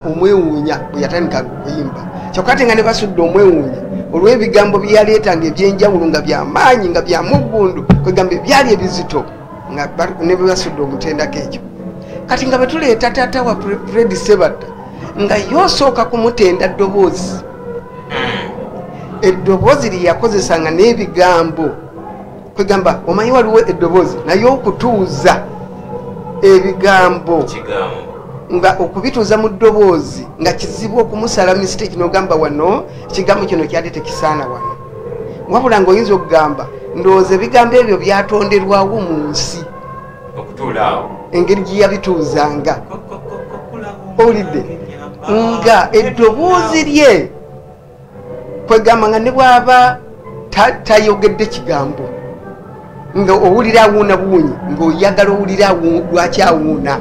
omwewuunya bwe yatandika okuyimba kyokka ate nga ne basudde omwewuunya olw'ebigambo bye yaleetanga eby'enjawulo nga byamaanyi nga bya muggundu kwegamba ebyali ebizito nga ne bwe basudde omutendako ekyo kati nga bwe tuleeta taata wa fredi sebatta nga ye osooka kumutenda ddoboozi eddoboozi lye yakozesanga n'ebigambo kwegamba omanyi waliwo eddoboozi naye okutuuza ebigambo nga okubituuza mu ddoboozi nga kizibu okumusala mistake nogamba wano ekigambo kino kyali tekisaana wano wabula nga oyinza okugamba ndowooza ebigambo ebyo byatonderwawo mu nsi engeri gyeyabituuzanga owulidde nga eddoboozi lye kwegamba nga ne bwaba tayogedde kigambo nga owulira awuuna buwunyi ngaoyagala owulira lwaki awuuna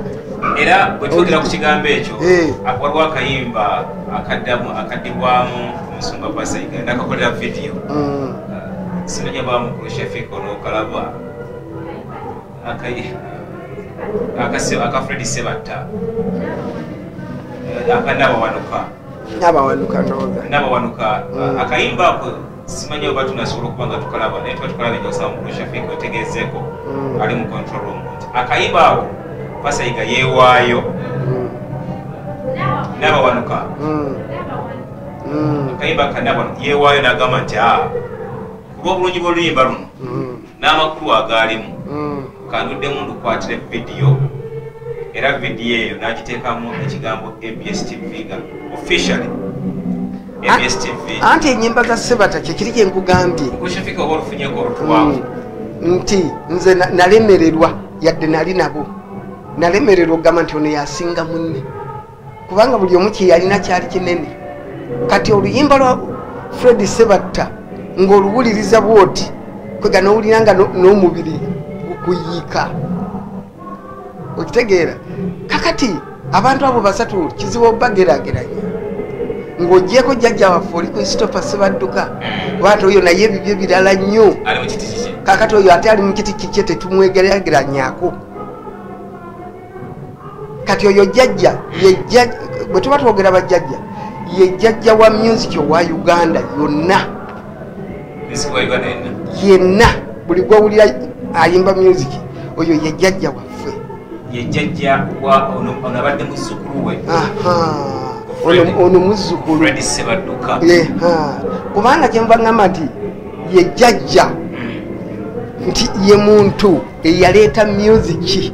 era bwetwogera ku kigambo ekyo eh. waliwo akayimba akaddamu akadibwamu omusumba pasaiga nakakolera vidiyo mm. sinonya bamukulu shafik olokalaba akafredi sebatta eh, akanabawanuka nabawanuka noga nabawanuka mm. akayimba ako simanyi oba tunasobola okuba nga tukalaba naye tuba tukalaba enyosaba mukulu shafik otegezeeko mm. ali mu control room nti akayimba ako pasayiga yewaayo mm. nabawanuka akayimba kanabawanuka yewaayo nagamba nti a ah, kuba obulungi bwoluyimba luno n'amakulu agaalimu mm. kanduddemu ndukwatire vidiyo era vidiyo eyo n'agiteekamu ekigambo abs tv nga officially abs tv anti enyimba za sebata kyekiri gye nkugambye kushifika oba olufunyeko olutwavu mm. nti nze nalemererwa yadde nali nabo nalemererwa okugamba nti ono yasinga munne kubanga buli omu kyeyalina kyali kinene kati oluyimba lwa fred sebatta ng'oluwuliriza bwoti kwega nowulira nga n'omubiri gukuyiika okitegeera kakati abantu abo basatu kizibu obagerageranya ng'ogyeko jjajja waffe oli kristofa sebadduka bwati oyo naye ebibyo birala nnyo kakati oyo ate ali mu kiti kikye tetumwegerageranyako kati oyo jajja bwe tuba twogera bajajja ye jajja wa music owa uganda yonna yenna buli gwowulira ayimba music oyo ye jajja waffe ono muzzukulu kubanga kyenva ngamba nti ye jajja hmm. nti ye muntu eyaleeta musiki